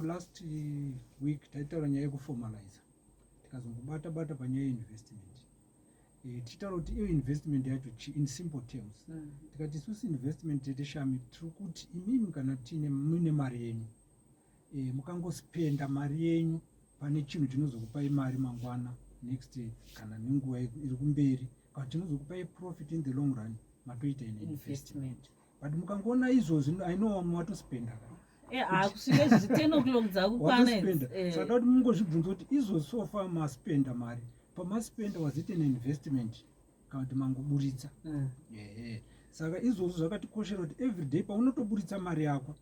Last eh, week taitaura nyaya yekuformaliza tikazongobata bata panyaya yeinvestment eh, tichitaura kuti iyo investment yacho chi in simple terms mm. tikati isusu investment tete shami tiri kuti imimi kana tiine muine mari yenyu eh, mukangospenda mari yenyu pane chinhu chinozokupai mari mangwana next kana nenguva iri kumberi kana chinozokupai profit in the long run matoita ine investment, investment. but mukangoona izvozvi i know vamwe vatospenda eh, hakusvika izvozvi ten o'clock dzakukwana eh. saka kuti mungozvibvunza kuti izvozvi so far maspenda mari pamaspenda was it an investment kana kuti mangoburitsa hmm. ehe saka izvozvo zvakatikoshera kuti everyday paunotoburitsa mari yako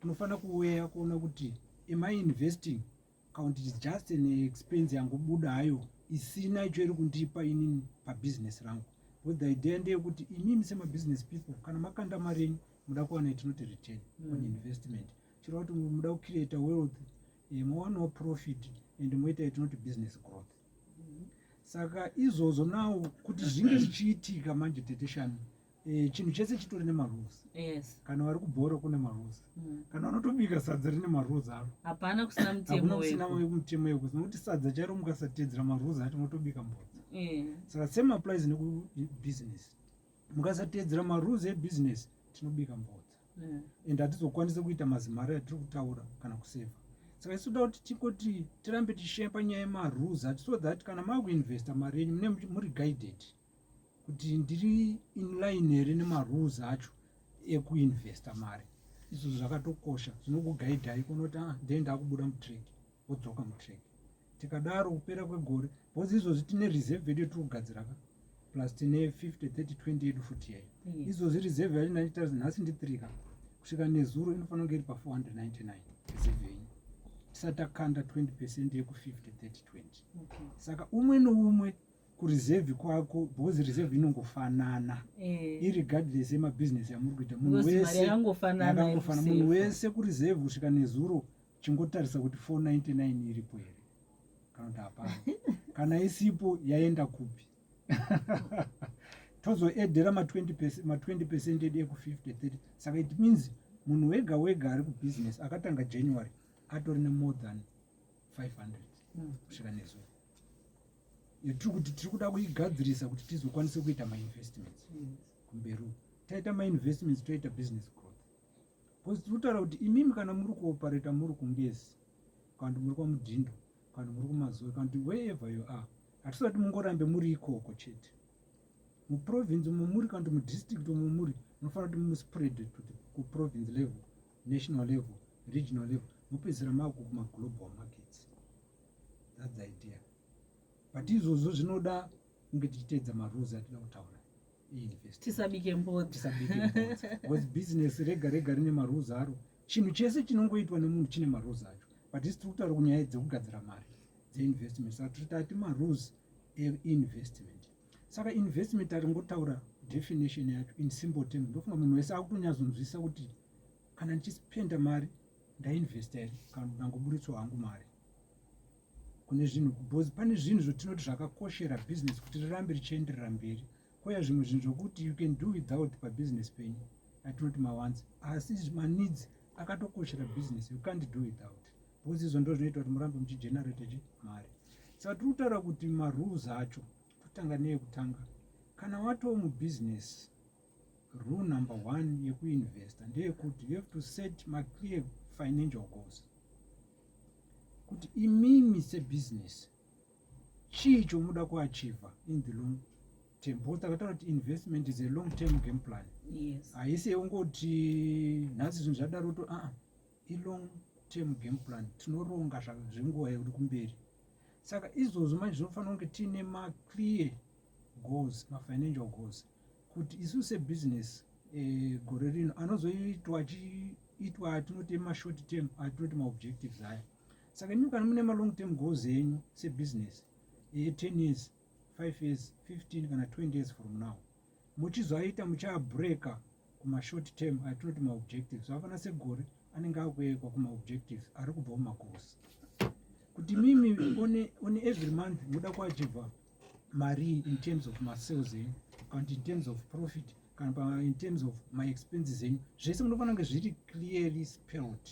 unofanira kuweya kuona kuti am i investing Account is just an expense yangobuda hayo isina icho iri kundipa inini pabusiness rangu because the idea ndeyekuti imimi semabusiness people kana makanda mari yenyu muda kuwana itinoti return mm. on investment chireva kuti muda kucreata wealth eh, mowanawo profit and moita itinoti business growth mm. saka izvozvo nawo kuti zvinge zvichiitika manje teteshani Eh, chinhu chese chitori nemarules yes. kana vari kubhora kune marules mm. kana vanotobika sadza rine marules aro hapana kusina mutemo kusina mutemo yeko nokuti sadza chairo mukasatedzera marules acho motobika mbodza mm. saka same applies nekubusiness mukasatedzera marules ebusiness tinobika mbodza mm. and hatizokwanisa kuita mazimari atiri kutaura kana kuseva saka isu toda kuti tikoti tirambe tichishaya panyaya yemarules ati so that kana makuinvesta mari yenyu mune muri guided mm. kuti ndiri inline here nemarules acho ekuinvesta mari izvo zvakatokosha zvinokugaidhai kunoti ah, dei ndakubuda mutrack wodzoka mutrack tikadaro kupera kwegore bcause izvozvi tine reserve yedu yetiri kugadzira ka plus tine 50 30 20 yedu futi yayo izvozvi reserve yacho ndaita nhasi ndi 3 ka kusvika nezuro inofanira kunge iri pa 499 reserve yenyu tisati takanda 20 percent yeku 50 30 20 saka umwe noumwe kureserve kwako because reserve inongofanana eh. irregardless yemabusiness yamuri kuita munhu wese angofanana munhu wese kureserve kusvika nezuro chingotarisa kuti 499 iripo here kana kuti hapana kana isipo yaenda kupi tozoedhera ma20 percent edu eku50 30 saka it means munhu wega wega ari kubusiness akatanga january atori nemore than 500 hmm. kusvika nezuro yatiri kuti tiri kuda kuigadzirisa kuti tizokwanise kuita mainvestments kumberi uku taita mainvestments toita business growth bcause tiri kutaura kuti imimi kana muri kuopareta muri kungezi kana kuti muri kwamudhindo kana kuti muri kumazoe kana kuti wherever you are hatisati mungorambe muri ikoko chete muprovince umo muri kana kuti mudistrict umo muri munofanira kuti muspread to the kuprovince level national level regional level mopedzisira makukumaglobal markets that's the idea but izvozvo zvinoda kunge tichiteedza marules atida kutaura tisabike mbodzatisabikebecause business rega rega rine marules aro chinhu chese chinongoitwa nemunhu chine marules acho but isi tiri kutaura kunyaya dzekugadzira mari dzeinvestment saka tiri tati marules einvestment saka investment aringotaura definition yacho in simple term ndofunga munhu wese akutonyazonzwisisa kuti kana ndichispenda mari ndainvesta here kana ndangoburitso hangu mari kune zvinhu because pane zvinhu zvotinoti zvakakoshera business kuti rirambe richienderera mberi koya zvimwe zvinhu zvokuti you can do without pabusiness penyu atinoti mawanzi asi maneeds akatokoshera business you can't do without because izvo ndo zvinoita kuti murambe muchigenerate chi mari saka tiri kutaura kuti marules acho totanga neyekutanga kana watoo mubusiness Rule number one yekuinvesta ndeyekuti you have to set maclear financial goals kuti imimi sebusiness chii chomuda kuachiva in the long term because takataura kuti investment is a long term game plan haisi yeungoti nhasi zvinhu zvadaro to aa ah, ilong term game plan tinoronga zvenguva yekuti kumberi saka izvozvo manje zvinofanira kunge tiine maclear goals mafinancial goals kuti isu sebusiness e, gore rino anozoitwa achiitwa atinoti mashort term atinoti maobjectives aya saka imi kana mune malong term goals enyu sebusiness e, 10 years 5 years 15 kana 20 years from now muchizoaita muchaabreaka kumashort term atinoti maobjectives afana segore anenge akuekwa kumaobjectives ari kubva mumagoals kuti mimi one, one every month muda kuachiva marii in terms of masales enyu kana in terms of profit kana in terms of my expenses enyu zvese munofanira kunge zviri clearly spelled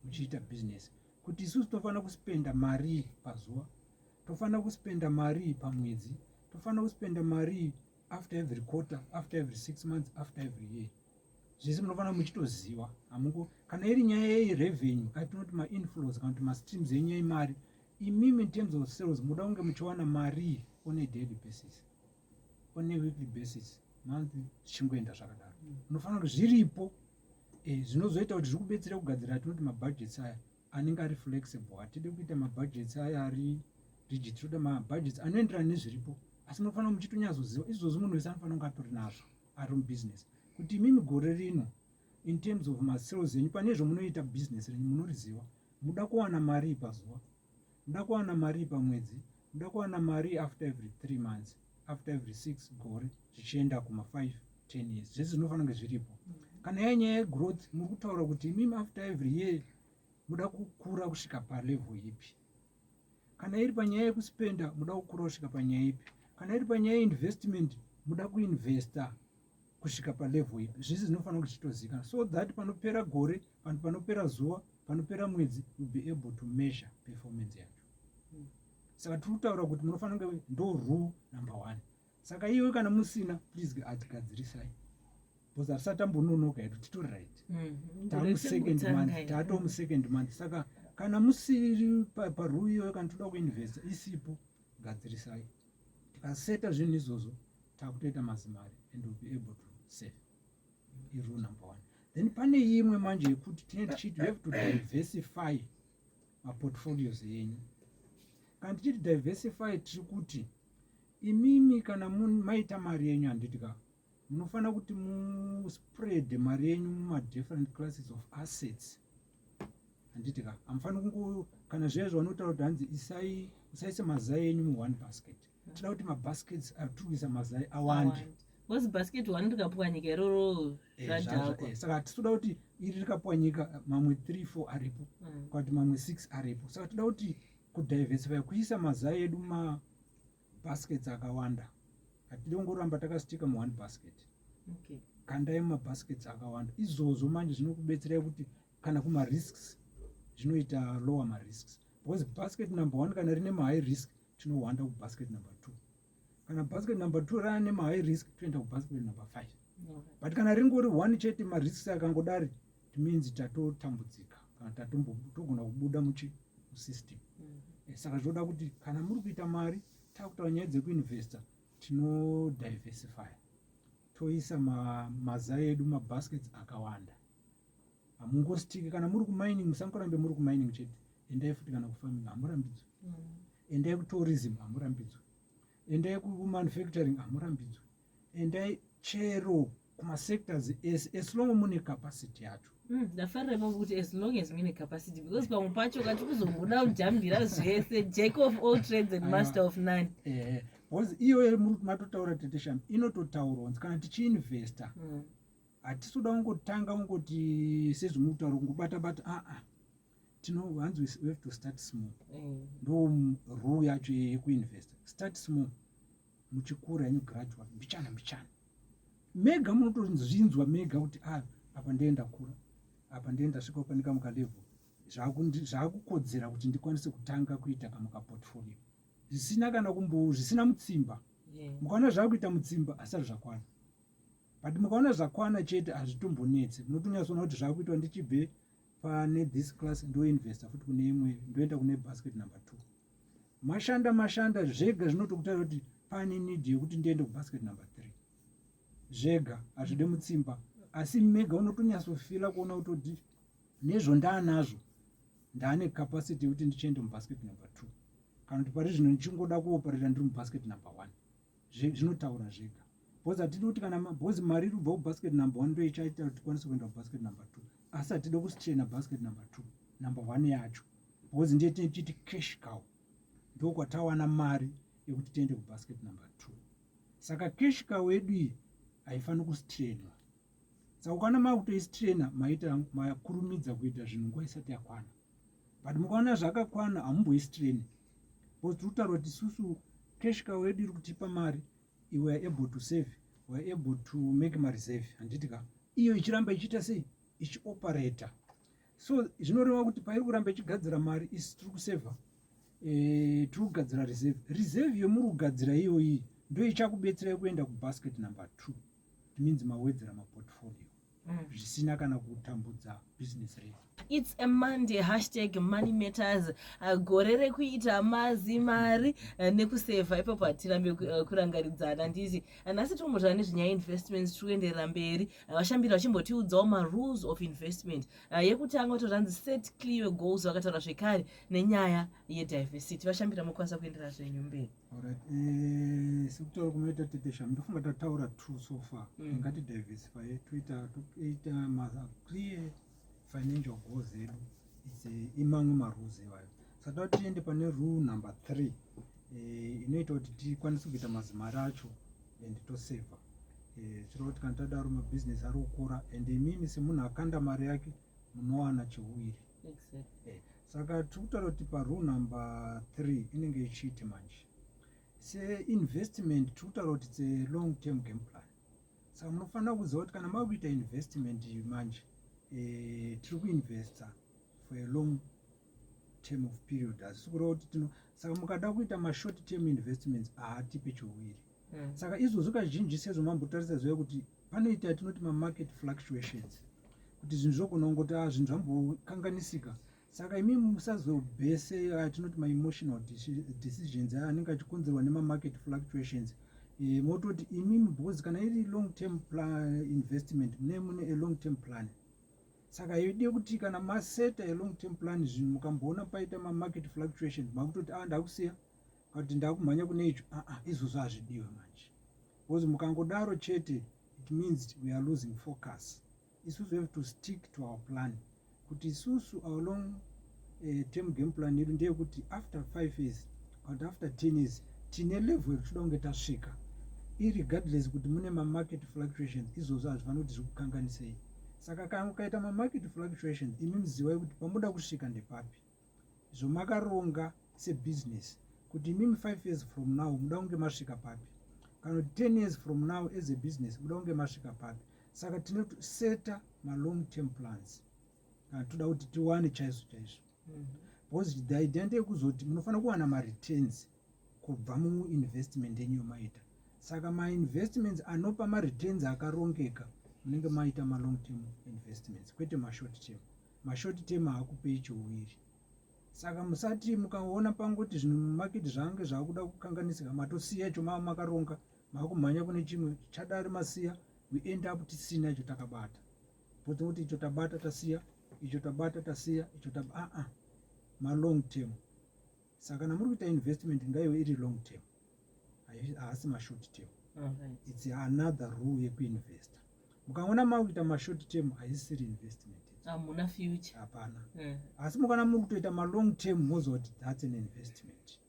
muchiita business kuti isusu tinofanira kuspenda marii pazuva tofanira kuspenda marii pamwedzi tofanira kuspenda marii after every quarter after every six months after every year zvese munofanira muchitoziva hamuko kana iri nyaya yerevenue atinoti mainflows kana kuti mastreams enyu emari imimi in terms of sales muda kunge muchiwana mari on a daily basis on a weekly basis monthly zvichingoenda zvakadaro unofanira kuti zviripo eh, zvinozoita kuti zvikubetsera kugadzira tinoti mabudgets aya anenge ari flexible hatidi kuita mabudgets aya ari rigid toda mabudgets anoenderana nezviripo asi munofanira muchitonyazoziva izvozvi munhu wese anofanira kunge atori nazvo ari mubusiness kuti imimi gore rino in terms of masales enyu pane zvomunoita business renyu munoriziva muda kuwana marii pazuva muda kuwana marii pamwedzi muda kuwana marii after every three months after every six gore zvichienda kuma5 ten years zvese zvinofanira kunge zviripo kana yai nyaya yegrowth muri kutaura kuti imimi after every year muda kukura kusvika palevel ipi kana iri panyaya yekuspenda muda kukura kusvika panyaya ipi kana iri panyaya yeinvestment muda kuinvesta kusvika palevel ipi zvese zvinofanira kuti chitozivikanwa so that panopera gore panhu panopera zuva panopera mwedzi will be able to measure performance yacho hmm. saka tiri kutaura kuti munofanira kunge ndo rule number one saka iwe kana musina please atigadzirisai bcause hatisati ambononoka hedu titori right hmm. tamusecond month tatomusecond month saka kana musiri parule iyoyo kana toda kuinvesta isipo gadzirisai tikaseta zvinhu izvozvo takutoita mazimari and will be able to save irule number one then pane imwe manje yekuti tine tichiti you have to diversify maportfolios enyu kana tichiti diversify tiri kuti imimi kana maita mari yenyu handiti ka munofanira kuti muspread mari yenyu mumadifferent classes of assets handiti ka hamufanira kungo kana zviya zvavanotaura kuti hanzi isai usaise mazai enyu muone basket tinoda kuti mabaskets atikuisa mazai awande bcause basket one rikapwanyika iroro eh, zvadhakwa eh, saka titoda kuti iri rikapwanyika mamwe three four aripo mm. kwakuti mamwe six aripo saka toda kuti kudiversify kuisa mazai edu ma baskets akawanda hatidi kungoramba takasitika mu one basket okay. kandai mumabaskets akawanda izvozvo manje zvinokubetserai kuti kana kumarisks zvinoita lower marisks because basket number one kana rine mahigh risk tinohwanda kubasket number two kana basket number two rana nemahigh risk toenda kubasket number five but kana ringori one chete marisks akangodari it means tatotambudzika kana togona kubuda muchi musystem mm. eh, saka zvoda kuti kana muri kuita mari takutaura nyaya dzekuinvesta tinodiversify toisa maza edu mabaskets akawanda hamungositiki kana muri kumining musangorambe muri kumining chete endai futi kana kufarming hamurambidzwe mm. endai kutourism hamurambidzwe endai kumanufacturing hamurambidzwe endai chero kumasectors ese as long mune capacity yacho hmm, ndafarira ipapo kuti as long as mine capacity because pamwe pacho kati kuzomboda kujambira zvese jack of all trades and master of none eh, bcause iyoyo muri kuti matotaura tetesham inototaurwa nzi kana tichiinvesta hmm. hatisi kuda kungotanga kungoti sezvimuri kutaura kungobata bata aa ah, ah. tino hanzi we have to start small eh. ndo rule yacho yekuinvesta start small muchikura henyu gradual mbichana mbichana mega munotozvinzwa mega kuti a ah, apa ndee ndakura apa ndee ndasvika kupanika mukalevel zvaakukodzera kuti ndikwanise kutanga kuita kana kaportfolio zvisina kana kumbo zvisina mutsimba mukaona zvaakuita mutsimba asati zvakwana but mukaona zvakwana chete hazvitombonetse munotonyasoona kuti zvaakuitwa ndichibve pane this class ndoinvesta futi kune imwe ndoenda kune basket number two mashanda mashanda zvega zvinotokutaura kuti pane need yekuti ndiende kubasket number three zvega hazvide mutsimba asi mega unotonyatsofila kuona kutoti nezvo ndaanazvo ndaane capacity yekuti ndichiende mubasket number two kana kuti pari zvino ndichingoda kuoparira ndiri mubasket number one zvinotaura zvega bcause hatidi kuti kana bcause mari iri kubva kubasket number one ndoichaita kuti tikwanise kuenda kubasket number two asi hatidi kusichena basket number two number one yacho bcause ndiye tinee tichiti cash cow ndokwatawana mari yekuti tiende kubasket number two saka cash cow yedu iyi haifaniri kusitrainwa saka ukana makutoisitraina maita makurumidza kuita zvinhu nguva isati yakwana but mukaona zvakakwana hamumboisi train bcause tiri kutaura kuti isusu cash cow yedu iri kutipa mari iwe are able to save were able to make mareserve handiti ka iyo ichiramba ichiita sei ichioperator so zvinoreva kuti pairi kuramba ichigadzira mari isi tiri kusevha eh, tiri kugadzira reserve reserve yomuri kugadzira iyoyi ndoichakubetsera yekuenda kubasket number two it means mawedzera maportfolio mm. zvisina kana kutambudza business redu its a monday hashtag money matters uh, gore rekuita mazi mari uh, nekusevha ipapo hatirambe uh, kurangaridzana nditi nhasi tombotaura nezvenyaya investments tiri kuenderera mberi vashambiri vachimbotiudzawo marules of investment yekutanga vato zvanzi set clear goals vakataura zvekare nenyaya yediversity vashambira mokwanisa kuenderera zvenyu mberi Alright, eh, sekutora kunoita tetesha ndofunga tataura two so far mm. ngati diversify toita toita maza clear financial goals edu it's eh, imamwe marules iwayo saka tiende pane rule number three eh, inoita kuti tikwanise kuita mazimari acho and toseva eh, chiro kuti kana tadaro mabusiness ari kukura and imimi semunhu akanda mari yake munowana chiwiri Eh, saka tiri kutaura kuti parule number three inenge ichiiti manje seinvestment tiri kutaura kuti tse long term game plan saka munofanira kuziva kuti kana mava kuita investment manje eh, tiri kuinvesta for a long term of period asi kureva kuti tino saka mukada kuita mashort term investments haatipe chiuviri mm. saka izvozvo kazhinji sezvo mambotarisa ziva kuti panoita yatinoti mamarket fluctuations kuti zvinhu zvogona kungoti a ah, zvinhu zvambokanganisika saka imi musazobese yatinoti ah, maemotional decisions aya anenge achikonzerwa nemamarket fluctuations eh, mototi imi because kana iri long term investment mune mune a long term plan saka yode kuti kana maseta a long term plan zvinhu mukamboona paita mamarket fluctuations makutoti a ah, ndakusiya but ndakumhanya kune icho aa ah, ah, izvozvo hazvidiwe manje because mukangodaro chete it means we are losing focus isusu have to stick to our plan kuti isusu our long uh, term game plan yedu ndeyekuti after five years but after ten years tine level yekutoda kunge tasvika irregardless kuti mune mamarket fluctuations izvozvo hazvifanira kuti zviri kukanganisei saka kana ukaita mamarket fluctuations imi muzivai kuti pamunoda kusvika ndepapi zvomakaronga sebusiness kuti imimi five years from now muda kunge masvika papi kana kuti ten years from now as a business muda kunge masvika papi saka tinoseta malong term plans kana toda kuti tiwane chaizvo chaizvo mhm. because the idea ndeyekuzoti munofanira kuwana mareturns kubva muinvestment yenyu yomaita saka mainvestments anopa mareturns akarongeka munenge maita malong term investments kwete mashort term mm -hmm. mashort term haakupei chouwiri saka musati mukaona pangoti zvinhu mumaketi zvange zvaakuda kukanganisika matosiya icho mava makaronga maakumhanya kune chimwe chadari masiya we end up tisina icho takabata pote kuti icho tabata tasiya icho tabata tasiya icho tab aa ah, ah. malong term saka kana muri kuita investment ngaive iri long term haasi mashort term its another rule yekuinvesta mukangoona makuita mashort term haisiri investment hamuna future hapana eh. asi mukana muri kutoita malong term moziva kuti thats an investment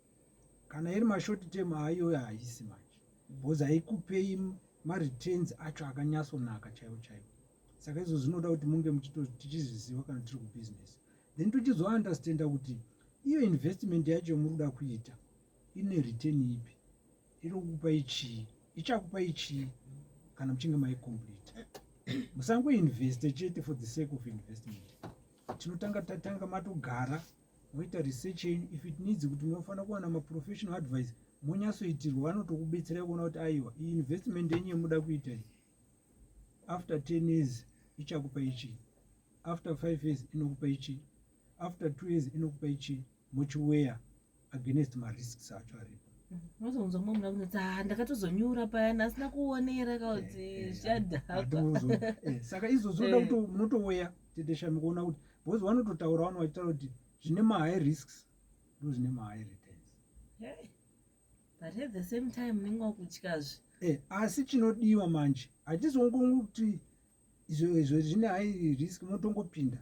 kana iri mashort term ayoyo haisi manje mm. because haikupei mareturns acho akanyatsonaka chaivo chaivo saka izvo zvinoda kuti munge tichizviziva kana tiri kubusiness then tochizounderstanda kuti iyo investment yacho yomuri kuda kuita ine return ipi iri kukupa ichii ichakupa ichii kana muchinge maicomplete musangoinveste chete for the sake of investment tinotanga tatanga matogara moita research yenyu if it needs kuti munofanira kuwana maprofessional advice monyasoitirwa vanotokubetserai kuona kuti aiwa iyi investment yenyu yemuda kuita after 10 years ichakupa ichi after 5 years inokupa ichi after 2 years inokupa ichi mochiweya against marisks acho aripo unozonzwa mumwe munhu akunoti ah, ndakatozonyura payana asina kuonera kakuti eh, eh, zvadhaka eh, saka izvozvo oda kuti munotoweya teteshami kuona kuti because vanototaura vano vachitaura kuti zvine mahigh risks ndo zvine mahigh returns but at the same time unenge wakutyazve eh, asi chinodiwa manje hatizongongi kuti izvo izvo zvine hai risk motongopinda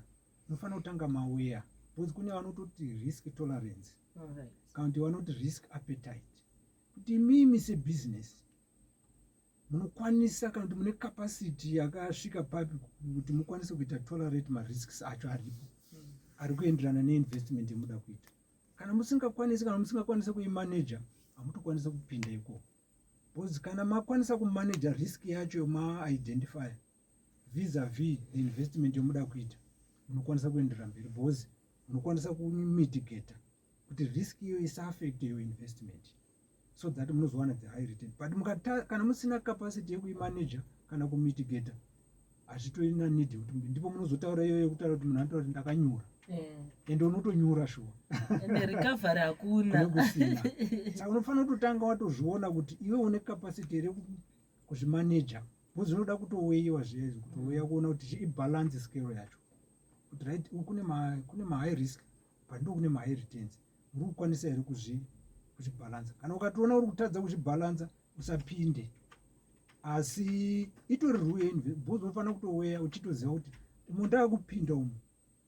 mofanira kutanga maweya because kune vanototi risk tolerance kana kuti vanoti risk appetite kuti mimi sebusiness munokwanisa kana kuti mune capacity yakasvika papi kuti mukwanise kuita tolerate marisks acho aripo hmm. ari kuenderana neinvestment yemuda kuita kana musingakwanisi kana musingakwanisa kuimaneja hamutokwanisa kupinda ikoko because kana makwanisa kumaneja risk yacho maaidentify vis a vis the investment yomuda kuita munokwanisa kuendera mberi because munokwanisa kumitigata kuti risk iyo isaafecte your investment so that munozowana the high return but mukata, kana musina capacity yekuimanager kana kumitigator hazvitorina need yekuti ndipo munozotaura iyoyo yekutaura kuti munhu anotaura kuti ndakanyura eh. ende unotonyura shuwa recovery hakuna kusina saka unofanira kutotanga watozviona kuti iwe une capacity here kuzvimanager bcause unoda kutoweiwa zviya izvi kutouya mm. kuona kuti ibalance scale yacho kuti right kune mahigh risk but ndo kune mahigh returns uri kukwanisa here kuzvibhalanza kana ukatoona uri kutadza kuzvibhalanza usapinde asi itori rue bcause unofanira kutoweya uchitoziva kuti umo ndakupinda umu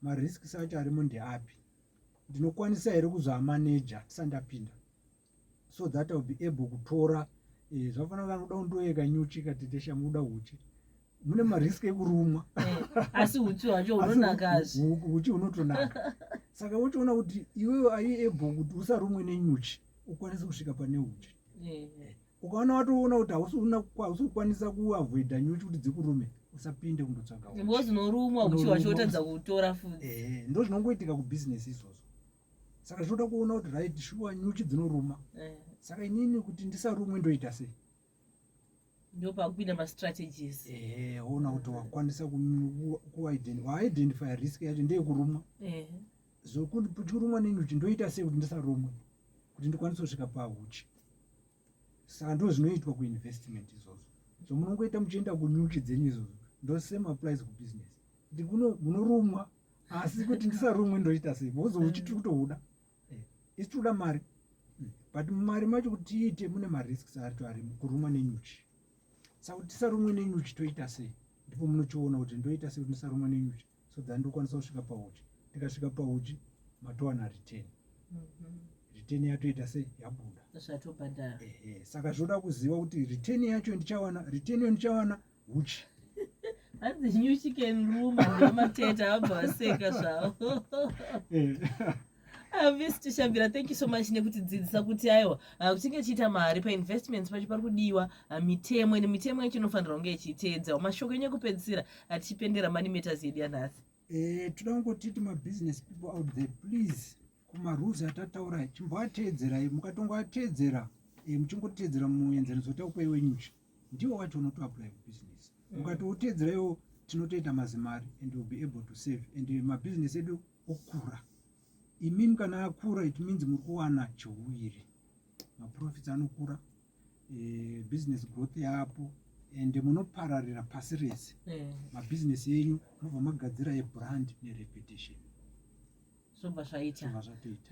marisks acho arimo ndeapi ndinokwanisa here kuzvamaneja tisandapinda so that ill be able kutora eh, zvafanira kanoda undoyeka nyuchi katete shamuda uchi mune marisk ekurumwa eh, asi uchi hwacho hunonakazve uchi hunotonaka saka wochiona kuti iwewe ayi able kuti usarumwe nenyuchi ukwanise kusvika pane uchi eh, eh. ukaona watoona kuti hausi kukwanisa kuavoida nyuchi kuti dzikurume usapinde kundotsvaga because unorumwa uchi hwacho wotadza kutora futi ndo zvinongoitika kubhizinesi izvozvo saka zvinoda kuona kuti right shuwa nyuchi dzinoruma saka inini kuti ndisarumwe ndoita sei ndopakupinda mastrategies ehe ona kuti wakwanisa kuidentify risk yacho ndeyekurumwa zvokuti tichirumwa nenyuchi ndoita sei kuti ndisarumwe kuti ndikwanise kusvika pahuchi saka ndo zvinoitwa kuinvestment izvozvo so munongoita muchienda kunyuchi dzenyu izvozvo ndo same applies kubusiness kuti munorumwa asi kuti ndisarumwe ndoita sei bhozo huchi tiri kutohuda eh, isi tikuda mari hmm, but mumari macho kuti tiite mune marisks acho ari kurumwa nenyuchi saka kuti tisarumwe nenyuchi toita sei ndipo munochiona kuti ndoita sei kuti ndisarumwa nenyuchi so than ndokwanisa kusvika pauchi ndikasvika pauchi matowana return mhm. return yatoita sei yabuda zvatobhadhara saka zvoda kuziva kuti return yacho ndichawana return yo ndichawana huchi hanzi nyuchi can room ndomateta abva vaseka zvavo avist eh. shabira thank you so much nekutidzidzisa kuti aiwa ah, kuchinge chiita mari painvestments pacho pari kudiwa ah, mitemo ende mitemo yacho inofanirwa kunge ichiteedzawo mashoko enyu ekupedzisira atichipendera money matters yedu yanhasi eh, toda kungotiti mabusiness people out there please kumarules atataura chimboateedzerai mukatongoateedzera eh, muchingoteedzera muenzaniso takupai wenyu nje ndiwo wacho unotoapply kubusiness mm. ukatoteedzera iwo tinotoita mazimari and will be able to save and mabusiness edu okura imimi kana akura it means muri kuwana chiuviri maprofits anokura eh, business growth yaapo and munopararira pasi rese mm. mabusiness enyu mobva magadzira ebrand nerepetition zvobva zvaita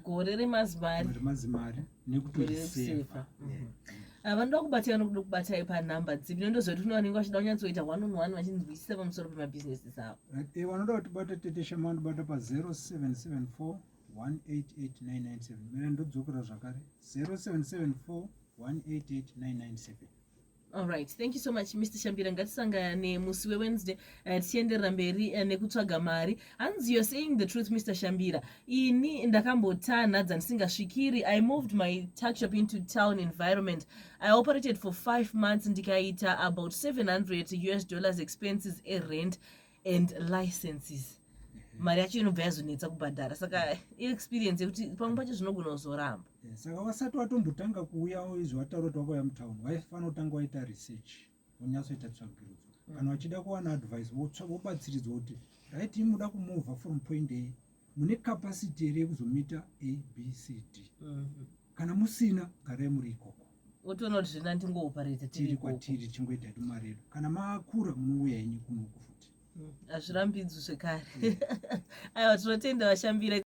gore remazimari nekutoisefa mhm. ah, vanoda kubatai vanokuda kubatai panhamba dzipi nondozoti kune vanenge vachida kunyatsoita one on one vachinzwisisa pamusoro pemabhizinesi dzavo eh, vanoda kutibata tete shama vanobata pa 0774 188997 mira ndodzokera zvakare 0774 188997 Alright, thank you so much Mr. Shambira. Ngatisangane musi weWednesday eh, tichienderera mberi eh, nekutsvaga mari. Hanzi you're saying the truth Mr. Shambira. Ini ndakambotanha dzandisingasvikiri. I moved my tuck shop into town environment. I operated for five months ndikaita about 700 US dollars expenses a rent. and licenses mhm. mari yacho inobva yazonetsa kubhadhara saka iexperience yekuti pamwe pacho zvinogona kuzoramba eh, saka vasati watombotanga kuuya izvi wataura kuti wakauya mutown waifanira kutanga waita research wonyatsoita tsvagirudzo mm. kana wachida kuwana advice wobatsiridzwa kuti right imuda kumovha from point a mune capacity here yekuzomita abcd mm-hmm. kana musina garai muri ikoko otoona kuti zvina ndingoopareta tiri kwatiri tichingoita hedu mari yedu kana makura munouya henyu kunoku futi mm, hazvirambidzwi zvekare mm. aiwa tinotenda vashambira